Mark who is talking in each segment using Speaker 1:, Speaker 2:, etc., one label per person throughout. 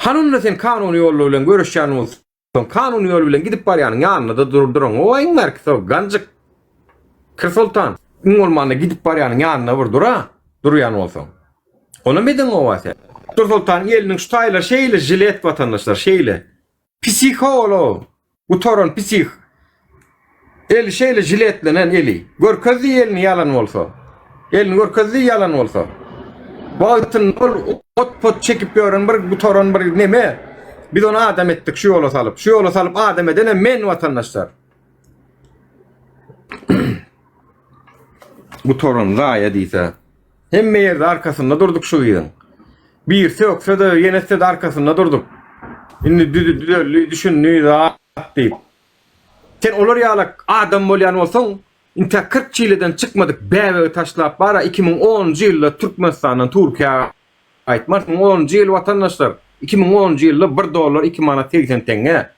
Speaker 1: Hany onda sen kanuny ýollar bilen göreşýän bolsaň, kanuny ýol bilen gidip barýanyň ýanynda-da dur duran goýaýyň bärki so, ganjyk. Kir soltan, iň bolmanda gidip barýanyň ýanynda bir dur-a, durýan bolsaň. Onam edeň gowa sen. Kir soltanyň eliniň şu taýlary şeýle žilet watandaşlar, şeýle. Pisiha ol-o, gutaran pisih. Eli şeýle jiletlenen eli. Görkezdi elini ýalan bolsa. Elini görkezdi ýalan bolsa. Wagtynda ol ot-pot çekip ýören bir gutaran bir neme. Biz ony adam etdik şu ýola salyp. Şu ýola salyp adam edenem men watandaşlar. Gutaran zaýa diýse. Hemme ýerde arkasynda durduk şu gyzyň. Birsi ökse-de, ýenesi-de arkasynda durduk. Indi düzeldi, düşündi zat diýip. Sen olar ýaly adam bolýan bolsaň, intä kyrk çileden çykmadyk bäbegi taşlap bar-a, iki müň onunjy ýylda Türkmenistandan Türkiýä gaýtmarsyň. Iki müň onunjy ýyl, watandaşlar, iki müň onunjy ýylda bir dollar iki manat segsen teňňe.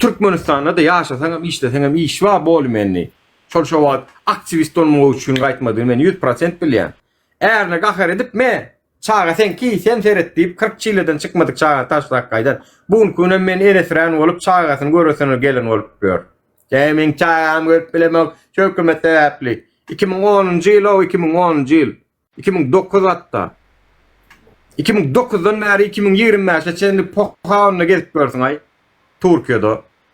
Speaker 1: Türkmenistanda-da ýaşasaňam, işleseňem iş bar, bolumendi. Şol şo wagt aktiwist bolmagy üçin gaýtmadygyny men ýüz prosent bilýän. Ärine gahar edip, Me, çaga seňki, sen seret diýip, kyrk çileden çykmadyk çagany taşlap gaýdan. Bu günki günem men eresrän bolup, çagasyny göresine gelen bolup ýör. Ýa meň çagamy görüp bilemok, şu hökümet sebäpli. Iki müň onunjy ýyl-ow, iki müň onunjy ýyl. Iki müň dokuz hatda. Iki müň dokuzdan bäri iki müň ýigrimi bäşe çenli poh-a onda gezip ýörsüň-aý, Turkiýada.